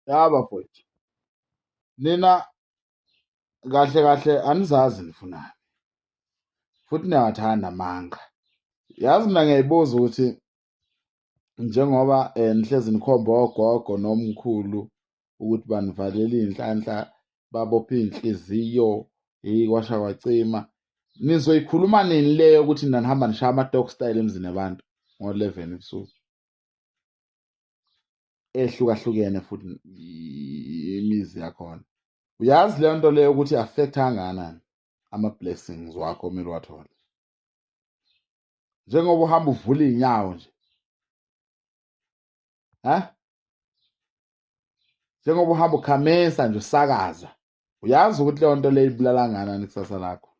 Ya bafowethu. Nina kahle kahle anizazi nifunani. Futhi niyawathanda amanga. Yazi mina ngiyayibuza ukuthi njengoba eh, nihlezi nikhomba ogogo nomkhulu ukuthi banivalela iy'nhlanhla babophe iy'nhliziyo hheyi kwasha kwacima nizoyikhuluma nini leyo ukuthi nanihamba nishaya ama-dog style emzini yabantu ngo-eleven ebusuku ehlukahlukene futhi imizi yakhona uyazi leyo nto leyo ukuthi affect anganani ama-blessings wakho omele wathole njengoba uhamba uvula iy'nyawo nje ha njengoba uhamba ukhamisa nje usakaza uyazi ukuthi leyo nto leyo ibulala nganani kusasa lakho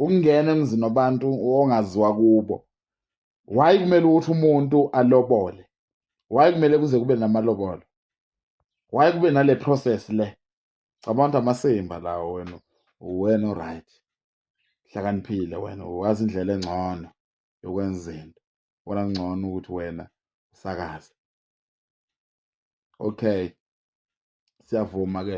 ukungena emzini wabantu ongaziwa kubo why kumele ukuthi umuntu alobole why kumele kuze kube namalobolo why kube nale process le cabanga ukuthi amasimba lawo wena uwena oright hlakaniphile wena wazi indlela engcono yokwenza into wona ngcono ukuthi wena usakaze okay siyavuma ke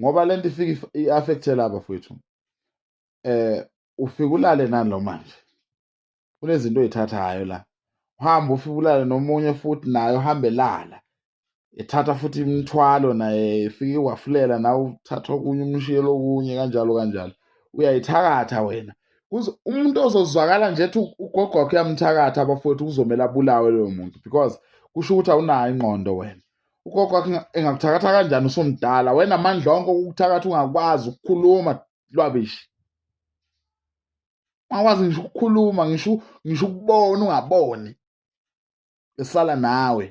ngoba lento ifika i-affecte laba fwethu eh ufike ulale nani lo manje kunezinto oyithathayo la uhamba ufike ulale nomunye futhi naye uhambe lala ethatha futhi imithwalo naye ifike wafulela nawe uthatha okunye umshiyelo okunye kanjalo kanjalo uyayithakatha wena umuntu ozozwakala nje ethi ugogo wakho uyamthakatha abafowethu kuzomele abulawe loyo muntu because kusho ukuthi awunayo ingqondo wena ugogo engakuthakatha kanjani usumdala wena amandla onke okukuthakatha ungakwazi ukukhuluma lwabishi ungakwazi ngisho ukukhuluma ngisho ngisho ukubona ungaboni esala nawe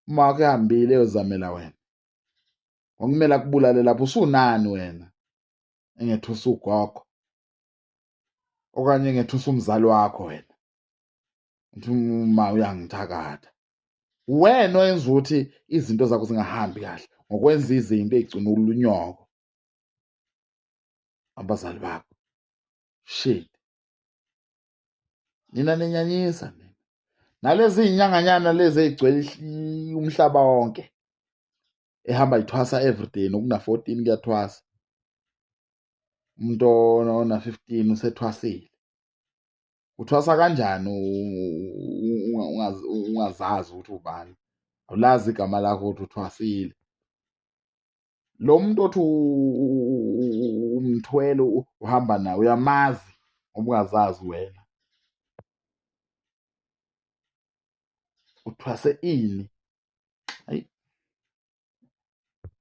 uma wakho ehambile eyozamela wena ngokumele akubulale lapho usunani wena engethusa ugogo okanye engethusa umzali wakho wena ngithi uma uyangithakatha wena oyenza ukuthi izinto zakho zingahambi kahle ngokwenza izinto eyigcina ulunyoko abazali bakho shit nina ninyanyisa nina nalezi inyanganyana lezi ezigcwele umhlaba wonke ehamba ithwasa everyday nokuna 14 kuyathwasa umuntu ona 15 usethwasile uthwasa kanjani ungazazi ukuthi ubani awulazi igama lakho ukuthi uthwasile lo muntu othi umthwele uhamba naye uyamazi ngoba ungazazi wena uthwase ini